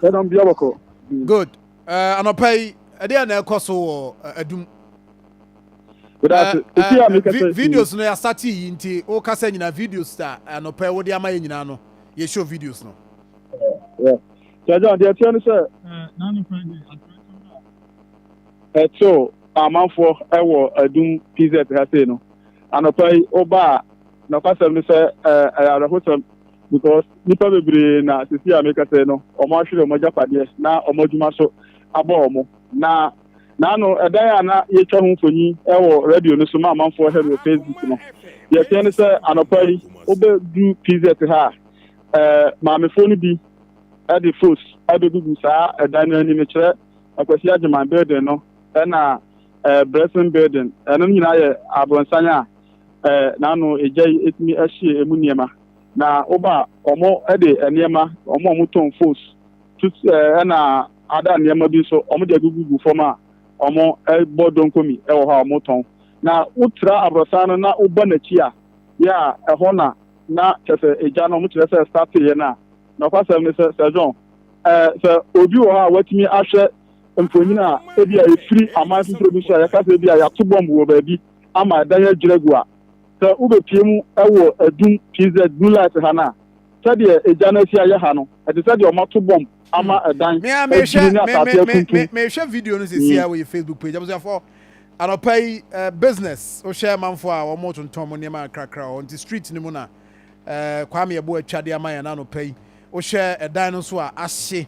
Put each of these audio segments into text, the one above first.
Ɛdam bia bɔkɔ. Good. Uh, anɔpa yi, ɛdeɛ na ɛkɔ so wɔ uh, adum. Uh, uh, videos no yɛasate yi nti wokasa nyinaa videos a anɔpa yi wode ama yɛ nyinaa no yɛhyɛ videos no. Kyɛgya deɛ ɛteɛ no sɛ ɛtew amanfoɔ ɛwɔ adum pz ha sei no anɔpa yi wobaa nɔkwasɛm no sɛ ɛyɛ awerɛhosɛm Because nnipa bebree na seesei a mekasa yi no, wɔahwere wɔn agyapadeɛ na wɔn adwuma so abɔ wɔn. Na naano ɛdan a na yɛtwa ho mfoni wɔ radio no so ma amanfoɔ hwɛ no wɔ Facebook no, deɛ ɛteɛ ne sɛ anɔpa yi wobɛdu PZ ha a, ɛɛ maamefoɔ no bi de fos abɛgugu saa ɛdan no anim, kyerɛ Akwasi Agyeman Building no ɛna ɛɛ Blessing Building. Ɛno nyinaa yɛ abrɔnsan a eh, n'ano egya yi etumi ahye emu nneɛma. Na woba a, ɔmo de nneɛma, ɔmo a ɔmo tɔn fos, tut eh, ɛna ada nneɛma bi nso, ɔmo de agugugu fam a ɔmo bɔ donkomi wɔ hɔ a ɔmo tɔn. Na wotra aborosan no na woba n'akyi a, yɛ a ɛhɔ na na kyerɛ sɛ egya no ɔmo kyerɛ sɛ stateeɛ no a. Nɔkwasɛm ne sɛ, Sir John, eh, sɛ obi wɔ hɔ a watumi ahwɛ mfonyin a ebi a efiri aman foforɔ bi so a yɛka sɛ ebi a yɛato bɔmb wɔ baabi, ama ɛdan adwiri agu a, sɛ wobɛpue mu wɔ adum pz blue light ha no a, sɛdeɛ egya no asi ayɛ ha no, ɛte sɛ deɛ wɔato bɔmb ama ɛdan Me a mehwɛ adwiri ne me me asase me me afuntum. mehwɛ video no sɛsi a wɔ Facebook page abusuafo anɔpa yi eh, business wohwɛ manfo a wɔn tontɔn wɔn nneɛma kakra wɔ hɔ nti street no mu na eh, Kwame ɛbo atwa de ama yɛn anɔpa yi wohwɛ ɛdan no nso a ahye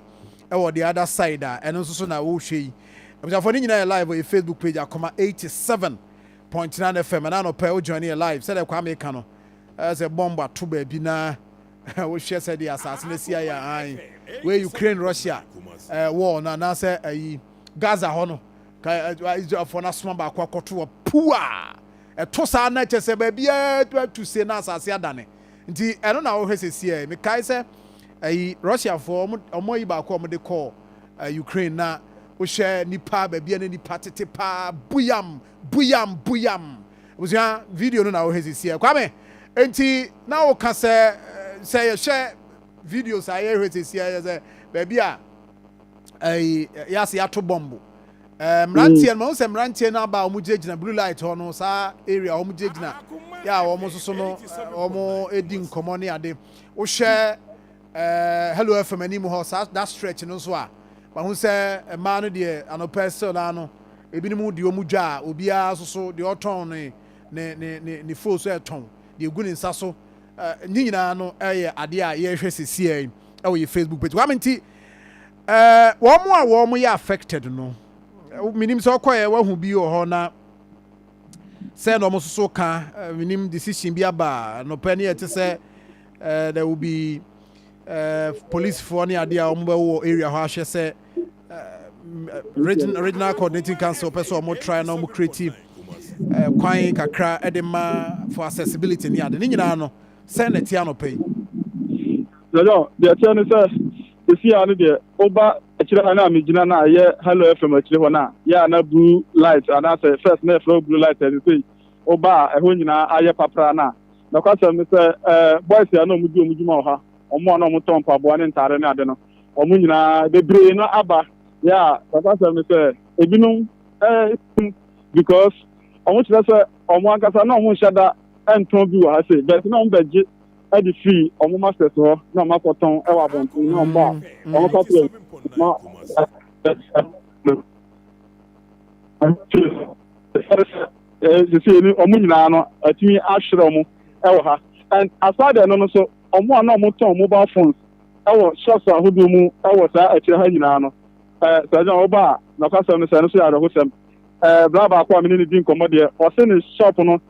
ɛwɔ the other side a ɛno nso so na wohwɛ yi Abusuafoɔ ne nyinaa yɛ live wɔ yɛ Facebook page Akoma 87.9 FM ɛna anɔpa yi wo join yɛ live sɛdeɛ Kwame ka no ɛyɛ sɛ bomb ato baabi na wohwɛ sɛdeɛ asase no asi ayɛ an wei Ukraine Russia war no anaasɛ ayi Gaza hɔ no ka Israelfoɔ no asoma baako akɔto wɔ puu a ɛto saa na kyɛ sɛ baabiara tu se na asase adane Nti ɛno na wohwɛ sesiɛ. Mekae sɛ ɛyi Russiafoɔ wɔn ayi baako a wɔn de kɔɔ eh, Ukraine na wohwɛ nipa baabi a na nipa tete paa buyam buyam buyam. Abusua video no na wohwɛ sesiɛ. Kwame nti na woka sɛ eh, sɛ yɛhwɛ videos a yɛhwɛ sesiɛ yɛ sɛ baabi a ɛyi yɛase yɛato bɔmbo Ɛɛ mmeranteɛ no ma sɛ mmeranteɛ no aba a wɔn gyinagyina blue light hɔ no saa area wɔn gyinagyina yɛ a wɔn soso no wɔn di nkɔmɔ ne ade wohwɛ ɛɛ hello fm anim hɔ saa that stretch no nso a wahu sɛ mmaa no deɛ anɔpɛ still naa no ebinom deɛ wɔn dwa a obiara soso deɛ ɔtɔn ne ne ne ne ne fo so ɛtɔn deɛ egu ne nsa so ɛɛ ne nyinaa no ɛyɛ adeɛ a yɛrehwɛ sɛ siɛ ɛwɔ yɛ facebook page wame nti. Eh, wɔn a wɔn yɛ affected no, menim sɛ ɔkɔɛ wahu bi wɔ hɔ na sɛ na wɔn nso so ka, eh, menim decision bi aba nɔpɛ ne yɛte sɛ eh, there will be eh, policefoɔ ne adeɛ a wɔn bɛwɔ area hɔ ahwɛ sɛ regional, regional coordinating council pɛ sɛ wɔn try na wɔn create kwan kakra de ma for accessibility ne ade ne nyinaa no sɛ na ɛte anɔpɛ yi Yɛyɔ, deɛ ɛteɛ ne sɛ, sesei ara no deɛ woba akyire ha no a megyina no a ɛyɛ Hello FM akyire hɔ no a, yɛ a na blue light anaasɛ first na yɛfrɛ hɔ blue light a sesei woba a ɛhɔ nyinaa ayɛ papraa no a, nɔkwasɛm ne sɛ eh, boys a na wɔn di wɔn dwuma wɔ ha, wɔn a na wɔtɔn mpaboa ne ntaare ne ade no, wɔn nyinaa bebree no aba, yɛ a nɔkwasɛm ne sɛ ebinom eh, because wɔn kyerɛ sɛ wɔn ankasa na wɔn nhyɛ da ntɔn bi wɔ ha sei, but na wɔn bɛgye ɛde firi ɔmo masters hɔ na ɔmo akɔtɔn ɛwɔ abɔnten na ɔmo ba a mm. ɔmo ka kyerɛ ma sisi ni ɔmo nyinaa no atumi ahyerɛ ɔmo ɛwɔ ha and aside ɛno no so ɔmo a na ɔmo tɔn mobile phones ɛwɔ shops ahodoɔ mu ɛwɔ saa akyire ha nyinaa no ɛɛ sɛ ɛdɛ ɔba a n'ɔkasɛm no sɛ ɛno so yɛ awerɛhosɛm ɛɛ bla baako a mene ne di nkɔmɔ deɛ ɔse ne shop no.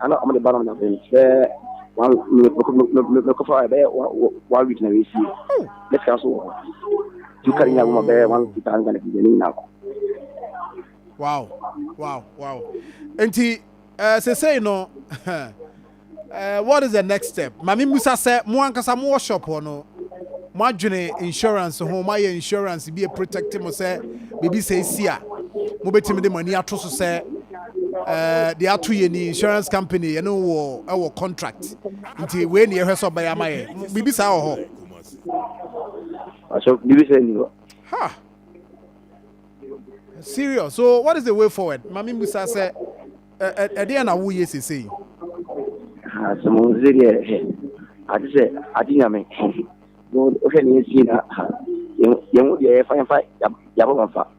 Ana ɔmo de ba no na bɛn bɛ one minute mɛkɔ mɛkɔ mɛkɔ fa bɛ one week na wɛsi ne fia so wɔ tu kari nya boma bɛ one week ta nga ne bi ne nyina ko. Wow wow wow nti ɛɛ eh, sesei no ɛɛ eh, what is the next step? Maame Musa sɛ mo ankasa mo wɔ shop hɔ no mo adwene insurance ho mo ayɛ insurance bi a protect mo sɛ biribi sɛ esi a mo betumi de mo ani ato so sɛ de ato yɛn ni insurance company yɛne wɔ ɛwɔ contract nti wei ne yɛhwɛ sɛ ɔbɛyɛ ama yɛ biribi saa wɔ hɔ ha serious so what is the way forward ma me mbusa sɛ ɛdeɛ na woyɛ sesei sɛ mo sɛ deɛ ade sɛ ade nyame wohwɛ ne yɛsie na yɛho deɛ yɛfa yɛfa yɛabɔ mafa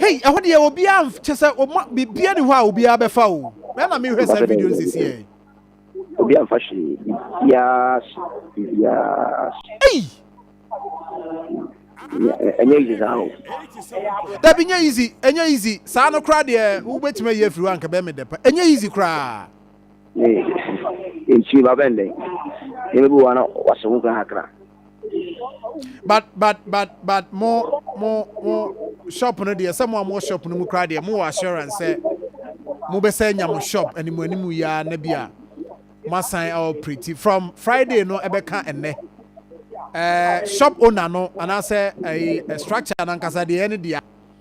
Hei, ɛhɔ deɛ obiara kyɛ sɛ ɔma biribiara ni hɔ a obiara bɛfa o. Mɛ na mehwɛ saa video no sisi ɛ. Obi amfa hwee biribiara so biribiara so. Ei. Ɛnyɛ easy saa o. Dabi nyɛ easy, ɛnyɛ easy. Saa no koraa deɛ wobɛtumi ayi afiri hɔ anka bɛyɛ me dɛ pa. Ɛnyɛ easy koraa. Ee, ntumi ba bɛn dɛn. Nneɛma bi wɔ hɔ a na wɔahyɛ ho nkuran kakra. but but but but mo mo mo shop no deɛ sɛ mo a mo shop no mu koraa deɛ mo wɔ assurance sɛ mo bɛ sɛ nya mo shop anim anim yia na bi a mo asan operate from friday no ɛbɛka ɛnɛ ɛɛ shop owner no anaasɛ ɛɛ structure nankasa deɛ ɛne deɛ.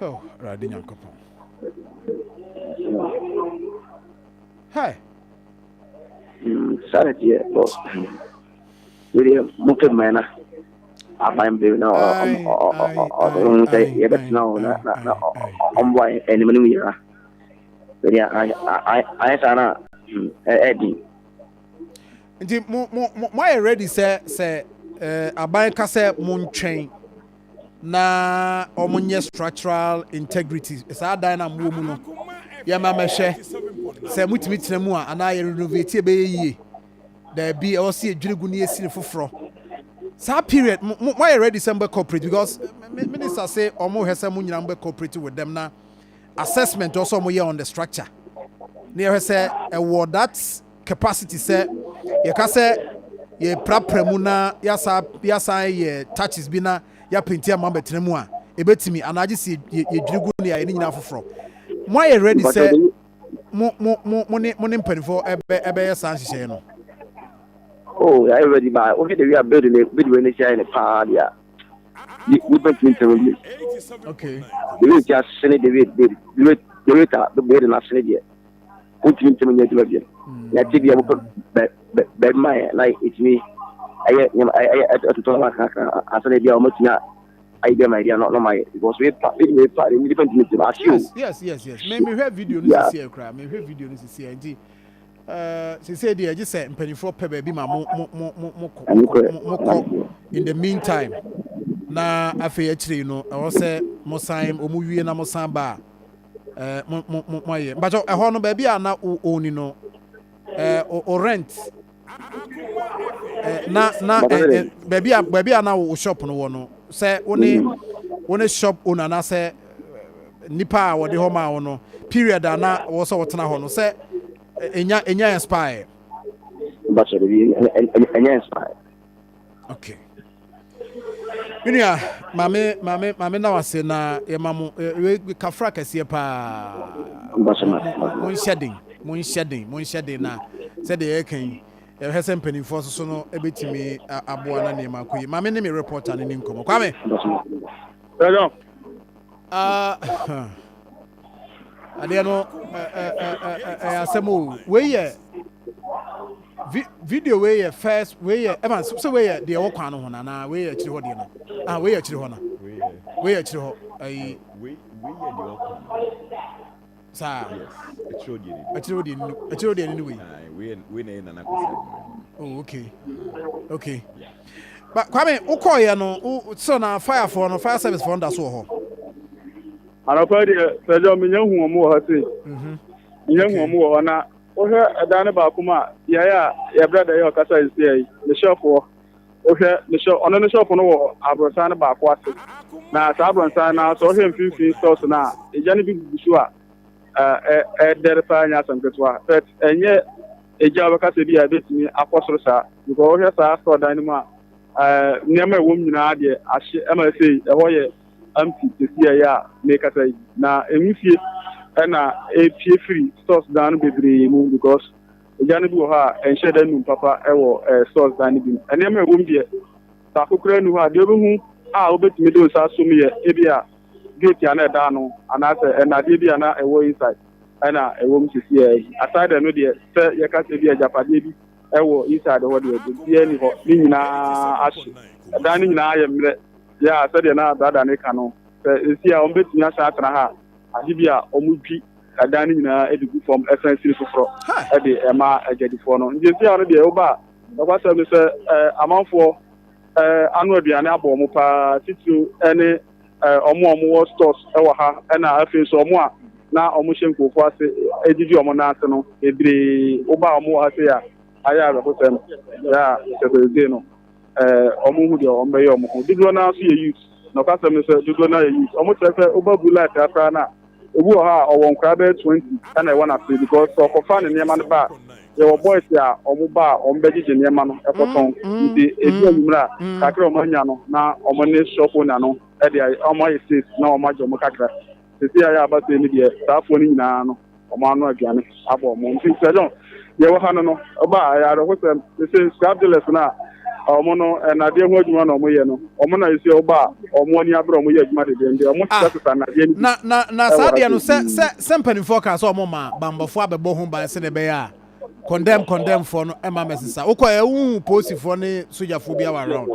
Oh, Awurade Nyankopɔn. Hey. Mm, sorry, dear. Oh, William, move to mine. aban bere na ɔno sɛ yɛbɛtena hɔ na ɔmmoa anim no yera bɛde ayɛ saa no a ɛdi nti moayɛ ready sɛ sɛ aban ka sɛ montwɛn na wɔn nyɛ structural integrity saa dan na mo wɔ mu no yɛ ma mɛhwɛ sɛ mo tumi tena mu a anaa yɛ renovate ɛbɛyɛ yie daabi ɛwɔ sɛ yɛdwiri gu ne yɛsi ne foforɔ saa period mo mo ayɛ ready sɛ mo bɛ cooperate because minister say wɔn hwɛ sɛ mo nyinaa mo bɛ cooperate with them na assessment also wɔn yɛ on the structure ne yɛhwɛ sɛ ɛwɔ that. capacity sɛ yɛka sɛ yɛprapra mu na yɛasan yɛ touches bi na yɛapenti ama bɛtena mu a ɛbɛtumi anaa gye sɛ yɛdwiri gu ne ayɛ ne nyinaa foforɔ moayɛ ready sɛ mo mo mo mo ne mo ne mpanimfoɔ ɛbɛ ɛbɛyɛ saa nhyehyɛeɛ no. oh yɛayɛ ready ba wohwɛ de wi a build ne build wei ne hyɛn ne paa deɛ wobɛtumi ntɛm bi okay de wei ti asene de wei de wei de wei ta de wei de n'asene deɛ. wotumi ntumi nyɛ adwuma biom na ɛte bia mopɛ baabi ma yɛ na ɛtumi ɛyɛ nneɛma ɛyɛ ɛtotɔ nneɛma kakra ansa na bia wɔatumi ayɛ bi ama ɛdeɛ no na ɔmayɛ because wepa wepa de nipa ntumi ntumi ahye o yes yes yes yes me mehwɛ video no sisi ɛkura mehwɛ video no sisi ɛnti ɛɛ sisi deɛ ɛgye sɛ mpanimfoɔ pɛ baabi ma mo mo mo mo mo kɔ mo kɔ in the meantime na afei akyire no ɛwɔ sɛ mo san wɔn wie na mo san ba a. eh, mo mo mo mo ayɛ mpatsɔ ɛhɔ no baabi a na o oni no eh, o o rent eh, na na eh, eh, baabi a baabi a na o shop no wɔ no sɛ wo ne mm. wo ne shop owner anaasɛ eh, nipa a wɔde hɔ maa wo no period a na wɔ sɛ wɔtena hɔ no sɛ enya eh, enya expire. Bachelor, you, and, and, and yes, okay me nua maame maame maame na wase na yɛma mo kafra kɛseɛ paa monhyɛ den monhyɛ den monhyɛ den na sɛdeɛ yɛka yi ɛhwɛ sɛ mpanimfoɔ soso no ɛbɛtumi aboa na nneɛma akɔ yi maame ne me reporter no ni nkɔmmɔ kwame ah, adeɛ no ɛyɛ asɛm o wei yɛ video wei yɛ first wei yɛ ɛma sɛ wei yɛ deɛ ɛwɔ kwan no ho no anaa wei yɛ akyiri hɔ deɛ no ah wei yɛ akyiri hɔ no wei yɛ akyiri hɔ ayi saa akyiri hɔ deɛ no akyiri hɔ deɛ no ne wei oh okay okay ba kwame wokɔɔyɛ no sɛ na firefoɔ no fire service foɔ no da so wɔ hɔ Anɔpa yi deɛ sɛdeɛ menya hu wɔn wɔ hɔ sei menya hu wɔn wɔ hɔ na wohwɛ ɛdan no baako mu a beaeɛ a yɛbrɛ da yɛ ɔkasa yi sei yi ne shop hɔ wohwɛ ne shop ɔno ne shop no wɔ abrɔsan no baako ase na saa abrɔsan no sɛ wohwɛ mfimfini stores no a egya no bi gugu so a ɛdɛre paa nyɛ asɛm ketewa but ɛnyɛ egya a wɔbɛka sɛ bi a ebetumi akɔ soro saa because wohwɛ saa store dan no mu a nneɛma ɛwɔ mu nyinaa deɛ ahye ɛma ɛsɛ ɛhɔ yɛ Empty, Sɛsi a ɛyɛ a mekasa yi na nwusie na ɛpie firi stores dan no bebree mu because egya no bi wɔ hɔ a ɛnhyɛ da nnum papa wɔ stores dan no bi mu. Nneɛma a ɛwɔ mu deɛ baako koraa nni hɔ a deɛ wobɛhu a wobɛtumi de wo nsa asom yɛ ebi a gate a na ɛda ano anaasɛ nnadeɛ bi a na ɛwɔ inside ɛna ɛwɔ mu sɛsi a yi. Aside ɛno deɛ sɛ yɛka sɛ bi agyapadeɛ bi ɛwɔ inside hɔ deɛ biribiara nni hɔ, ne nyinaa ahye. Dan no nyinaa ayɛ mmerɛ Yeah, sɛdeɛ na brada no reka no, sɛ ɛsi a wɔbɛtumi asan atena ha a, agye bi a wɔdwi ɛdan no nyinaa de gu fam san sini foforɔ de ma agyadifoɔ no. Nti ɛsi a no deɛ woba a, nokwasɛm ne sɛ amanfoɔ ano aduane abɔ wɔn paa, titiriw ne wɔn a wɔwɔ stores wɔ ha, ɛna afei nso wɔn a na wɔhyɛ nkurɔfoɔ ase didi wɔn nan ase no bebree. Woba a wɔwɔ ha sei a, ayɛ awerɛhosɛm. Yeah, sɛ sɛ ɛsei no. Eh, wɔn ho deɛ wɔn bɛyɛ wɔn ho. Dodoɔ no ara nso yɛ youth. Na ɔkasɛm ne sɛ dodoɔ no ara yɛ youth. Wɔn kyerɛ sɛ woba bu life ha koraa no a, ebi wɔ hɔ a ɔwɔ nkwadaa bɛyɛ twenty ɛna ɛwɔ n'ase because sɛ ɔkɔfa ne nneɛma no ba a, yɛwɔ boys a wɔn ba a wɔn bɛgyegye nneɛma no ɛkɔtɔn. Nti edu anwummerɛ a, kakra a wɔn anya no na wɔn ne shop owner no ɛde ayɛ, wɔn ayɛ sales na wɔn agye wɔn kakra. Sesei ayɛ aba sei no deɛ saafoɔ no nyinaa no wɔn ano aduane abɔ wɔn nti Sir John deɛ ɛwɔ ha no no ɔba a ɛyɛ awerɛhosɛm sesei scrap dealers no a wɔn no nnadeɛ ho adwuma na wɔyɛ no wɔn na sesei ɔba a wɔn ani abere wɔn yɛ adwuma dedeende wɔn ah, sesasesa nnadeɛ no bi na na na saa deɛ no sɛ sɛ sɛ mpanimfoɔ kaa sɛ wɔn maa bammɔfoɔ abɛbɔ ho ban sɛ na ɛbɛyɛ a condemn condemn foɔ no ɛma mɛsesa wokɔ ɛ wohu polisifoɔ ne sogyafoɔ bi awa round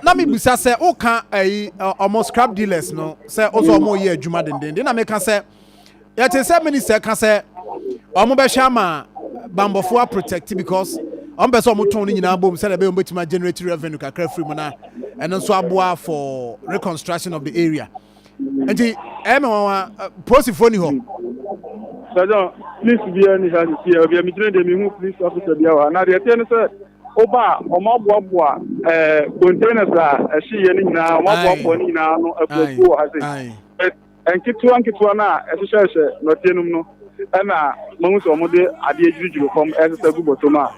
na mebusa sɛ woka ayi ɔmo scrap dealers no sɛ wo sɛ ɔmo yɛ adwuma dendenden na meka sɛ yɛte sɛ minister ka sɛ ɔmo bɛhwɛ ama bambɔfoɔ aprotect because ɔmo pɛ sɛ ɔmo tɔn no nyinaa bom sɛdeɛ ɛbɛyɛ ɔmo bɛtumi agenerate revenue kakra firi mu na ɛno nso aboa for reconstruction of the area nti ɛyɛ me nwanwa polisifoɔ ni hɔ sɛdɛ polisi biara ni ha sisi ɛ bia megyina deɛ mehu polisi officer biara wɔ ha na deɛ ɛteɛ ne sɛ woba a wɔn aboaboa ɛɛ containers a ɛhyeeɛ no nyinaa wɔn aboaboa no nyinaa ano akuakuo wɔ ha sɛ nketewa nketewa no a ɛhyehyɛhyɛ nɔteɛ nom no ɛna mahu sɛ wɔde adeɛ gyirigyiri fam ɛsesa gu bɔtɔ mu a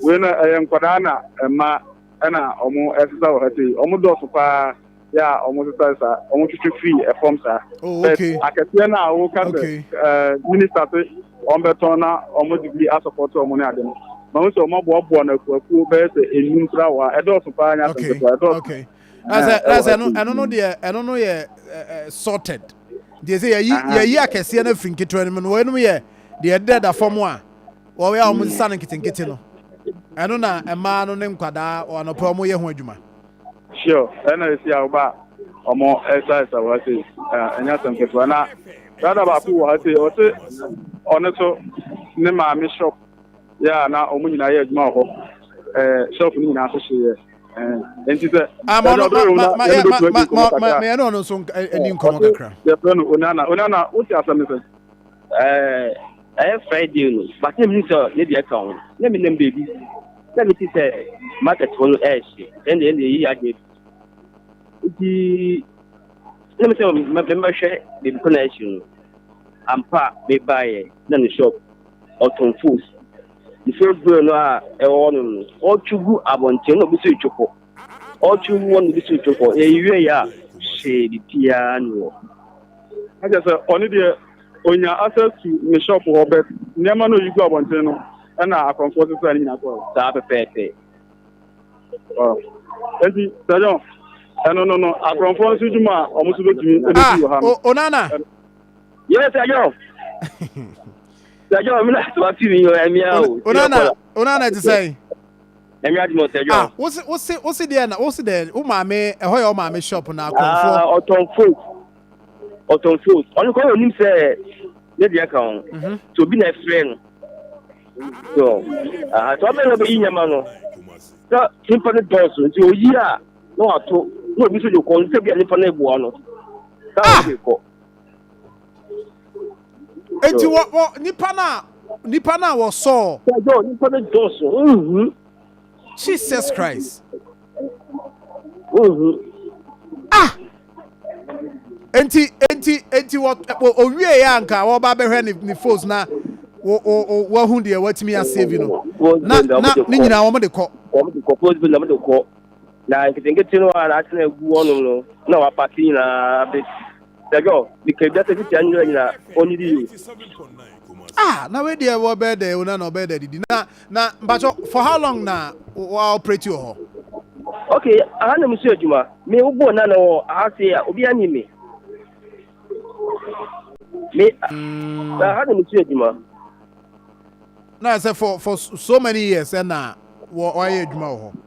wei no ɛyɛ nkwadaa na mma ɛna wɔn ɛsesa wɔ ha sɛ wɔn dɔɔso paa yɛ a wɔn sesa saa wɔn twitwi firi ɛfam saa oh, but akɛseɛ no a wɔka sɛ ɛɛ minista se wɔn bɛtɔn na wɔn de bi asɔpɔtɔ wɔn ne ade no na wɔn sɛ wɔn aboaboa no akuakuo bɛyɛ sɛ enum kura wɔ a ɛdɔɔso paa nya asɛnketewa ɛdɔɔso. ɛsɛ ɛsɛ ɛno ɛno no deɛ ɛno no yɛ ɛɛ sorted deɛ sɛ yɛyi yɛyi akɛseɛ no afiri nketewa no mu no wɔn enum yɛ deɛ ɛdɛ da fam a wɔyɛ a wɔn sisa no nketenkete no ɛno na mmaa no ne nkwadaa wɔn anɔpɛ wɔn yɛ ho adwuma. Sure ɛna esi a woba ɔmo ɛsa ɛsa wɔ ha sei ɛnyɛ asɛm ketewa na dada baako wɔ ha sei ɔse ɔno so ne maame shop yɛ a na ɔmo nyinaa yɛ adwuma wɔ hɔ ɛɛ shop no nyinaa so hyeeɛ ɛɛ nti sɛ ama ɔno ma ma ma yɛ ma ma ma ma yɛ no ɔno nso ɛni nkɔmɔ kakra yɛfrɛ no onana onana wote asɛm no sɛ ɛyɛ Friday no, bàtí na mi hu sɛ ne deɛ ka ho, na mi nam beebi, na mi ti sɛ market hɔ no ɛɛhye, ɛnna ɛnna eyi adi ebi. Nti na mi sɛ mɛ mɛhwɛ beebi kɔ na ɛhye no, ampa mi ba yɛ na ne shop ɔtɔn foods, ne foods bɛyɛ no a ɛwɔ hɔ nom no, ɔtwi gu abɔnten na obi so etwi kɔ. ɔtwem wɔn de si to hɔ ewie a hwee de tiaa ni wɔ. Ɛkyɛ sɛ ɔne deɛ onya access to ne shop hɔ bɛ nneɛma no yi gu abɔnten no ɛna akɔnfoɔ sesa ne nyina kɔɔ. Saa pɛpɛɛpɛ. Enti sɛdɛn ɛno no no akɔnfoɔ nso dwuma a wɔn nso bɛtumi ɛbɛsi ah, wɔ ha no. Onana. Yes, sɛdɛn. Sɛdɛn mi na sɔ ti mi yɛ ɛmia o. Onana, onana ti sɛn. Nyame adom o sɛ John. Ah wo se wo se wo se deɛ na wo se deɛ wo maame ɛhɔ yɛ wo maame shop na akɔnfoɔ. Ah ɔtɔn folk ɔtɔn folk ɔno kɔn onim sɛ ne deɛ ka ho mhm. sɛ obi na ɛfrɛ no so aha sɛ ɔbɛn na ɔbɛyi nyɛma no sɛ nipa no dɔɔso nti oyi a na wato na obi so de kɔ nsɛ bi a nipa no eboa no sɛ ɔde kɔ. Eti wɔ wɔ nipa no a nipa no a wɔsɔɔ. Sɛdeɛ onipa no dɔɔso nhu. Jesus Christ. Nhu. Ah! Enti enti enti wɔ owie yɛ anka wɔba bɛhwɛ ne ne foes na wo wo wahu deɛ watumi asave no. Na na ne nyinaa wɔn de kɔ. Wɔn de kɔ foes bi na wɔn de kɔ. Na nketenkete no a na atena egu wɔnom no na wapaki nyinaa bɛ. Sɛgɛɔ, meka ebi asɛ titi anyina nyina ɔnyi di yoo. Ah na wei deɛ wɔ bɛɛ dɛ ona na ɔbɛɛ dɛ didi na na mpatsɔ for how long na wa operate wɔ hɔ. Ok aha na musu adwuma me wo bɔɔ na na wɔ aha se a obi anyi me me na aha na musu adwuma. Na sɛ for for so many years ɛna wɔ wayɛ adwuma wɔ hɔ.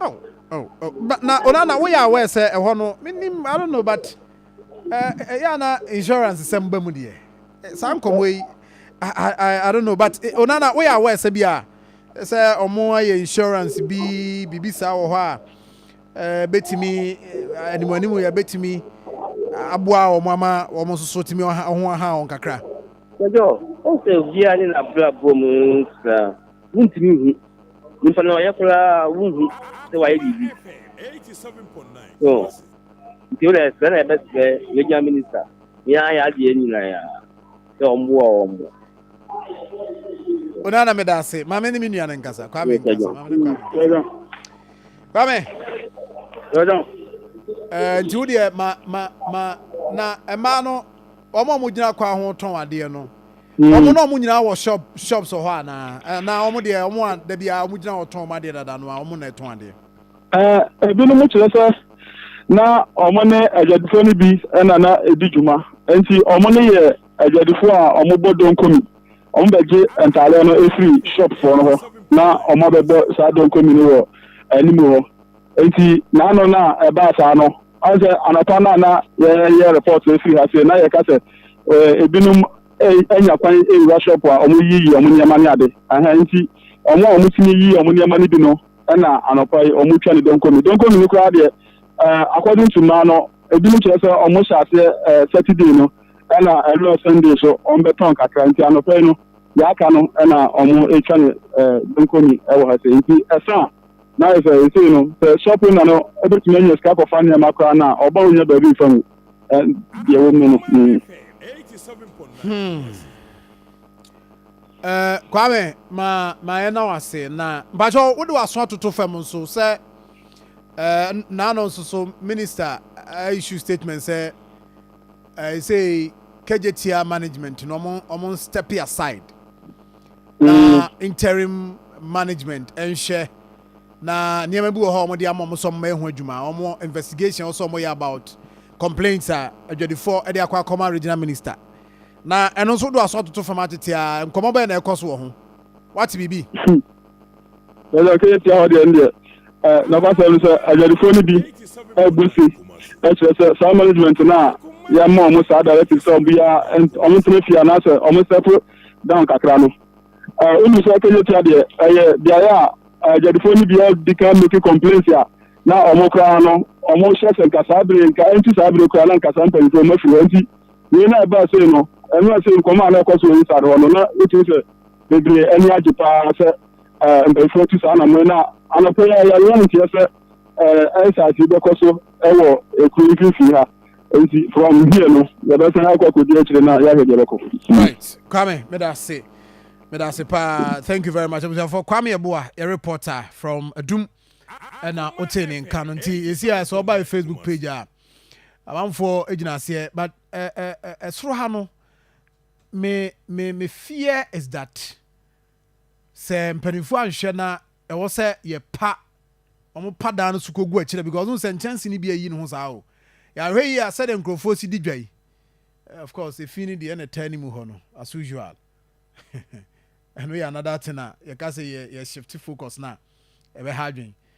Oh, oh, oh. But na Onana, oh, we are aware say ɛhɔ no menim I don't know but ɛyɛ eh, eh, na insurance sɛm ba mu deɛ eh, saa nkɔmmɔ yi I, I, I don't know but Onana, we are aware sɛ bi a sɛ ɔmo ayɛ insurance bi biribi saa wɔ hɔ a ɛɛ betumi animanimu yɛ betumi aboa wɔn ama wɔn nso so tumi ɔho aha wɔn kakra. ɛdɔ ɔsɛ obiara ne n'abrabɔ mu nsa wontumi hu. Nipa no ɔyɛ koraa wunhu sɛ wayɛ biribi. So nti wodɛ sɛ na ɛbɛsrɛ regional minister ne ayɛ adeɛ nyinaa ya sɛ ɔmboa wɔn mo. Onana meda ase ma me ne me nua no nkasa Kwame nkasa ma me ne Kwame. Kwame. Ɛɛ nti wodeɛ ma ma ma na ɛmaa no. wɔn a wɔgyina kwan ho tɔn adeɛ no wɔn mm. na wɔn nyinaa wɔ shop shops wɔ hɔ anaa anaa wɔn deɛ wɔn a dabi a wɔn gyina hɔ tɔn wɔn adeɛ dada no a wɔn na ɛtɔn adeɛ. ɛɛ ebinom kyerɛ sɛ na wɔn ne adwadifoɔ no bi na na edi dwuma nti wɔn no yɛ adwadifoɔ a wɔbɔ donkomi wɔn bɛgye ntaadeɛ no efiri shopfoɔ no hɔ na wɔn abɛbɔ saa donkomi no wɔ anim hɔ nti n'ano no a ɛbaa saa no. Ɔsɛ anɔpa no a na yɛyɛ report no firi ha sei na yɛka sɛ eh, ebinom eh, anya kwan awura shop a wɔyiyi wɔn nneɛma ne ade aha nti wɔn a wɔtumi yiyi wɔn nneɛma no bi no na anɔpa yi wɔtwa ne donkomi donkomi no koraa deɛ eh, according to mmaa no ebinom kyerɛ sɛ wɔhyɛ aseɛ eh, saturday no ɛna ɛlɔ sunday so wɔbɛtɔn kakra nti anɔpa yi no yɛaka no ɛna wɔtwa ne eh, donkomi ɛwɔ ha sɛ nti ɛsa a na ayɛ sɛ ɛsei no sɛ shop owner no bɛtumi anya sika kɔfa nneɛma koraa no a ɔba ɔnya baabi mfa mu deɛ wɔm no no hmm. eh, Kwame ma ma yɛ na wase na mpakyɛ wode waso atoto fam nso sɛ eh, naano nso so minister eh, issue statement sɛ ɛsei eh, kagyetia management no ɔmo ɔmo step aside na interim management nhwɛ na nneɛma bi wɔ hɔ a wɔde ama wɔn sɛ wɔn ɛho adwuma wɔn investigation wɔn sɛ wɔn yɛ about complaints a adwadifoɔ ɛde akɔ akɔma regional minister na ɛno nso do aso atoto fam atete a nkɔmɔ bɛyɛ na ɛkɔ so wɔ ho wate biribi. ɛyɛ ɔkɛyɛ tia hɔ deɛ ndeɛ nɔkwasɛm no sɛ adwadifoɔ no bi abu se ɛkyerɛ sɛ saa management no a yɛma ɔmo saa directive sɛ ɔmo yɛ ɔmo ntena fie anaasɛ ɔmo sɛpo down kakra no wonu sɛ kɛnyɛtua deɛ ɛyɛ beaeɛ a agyadifoɔ no bia di kan make complaints a na ɔmo koraa no ɔmo hyɛ sɛ nka saa bere nka ɛnti saa bere koraa na nka saa mpanyinfoɔ ɔmo afiri hɔ nti wei na ɛbaa sei no ɛno a sei nkɔmɔ a na ɛkɔ so wɔ nsade hɔ no na wotumi sɛ bebree ani agye paa sɛ mpanyinfoɔ tu saa anamɔ na anɔpɛ yɛ yɛyɛ nteɛ sɛ ɛnsaase bɛkɔ so ɛwɔ ekuro mfimfini ha nti from here no yɛbɛsan akɔ akɔdi akyire na yɛahwɛ deɛ ɛbɛkɔ right kwame meda ase meda ase paa thank you very much abusuafoɔ kwame ɛboa yɛ reporter from adum ɛna wotee ne nka no nti yɛsi a sɛ ɔba yɛ facebook page a amanfoɔ gyina aseɛ but ɛsoro ha no me me me fear is that sɛ mpanimfoɔ anhwɛ na Ɛwɔ sɛ yɛ pa wɔn pa daa no so kɔ gu akyire because wohu sɛ nkyɛnse no bi ayi ne ho saa o. Yɛ ahwɛ yie a sɛdeɛ nkurɔfoɔ si di dwa yi eh, of course efi no deɛ ɛna ɛtaa ne mu hɔ no as usual ɛno yɛ another thing a yɛka sɛ yɛ yɛ shift focus no a ɛbɛha adwene.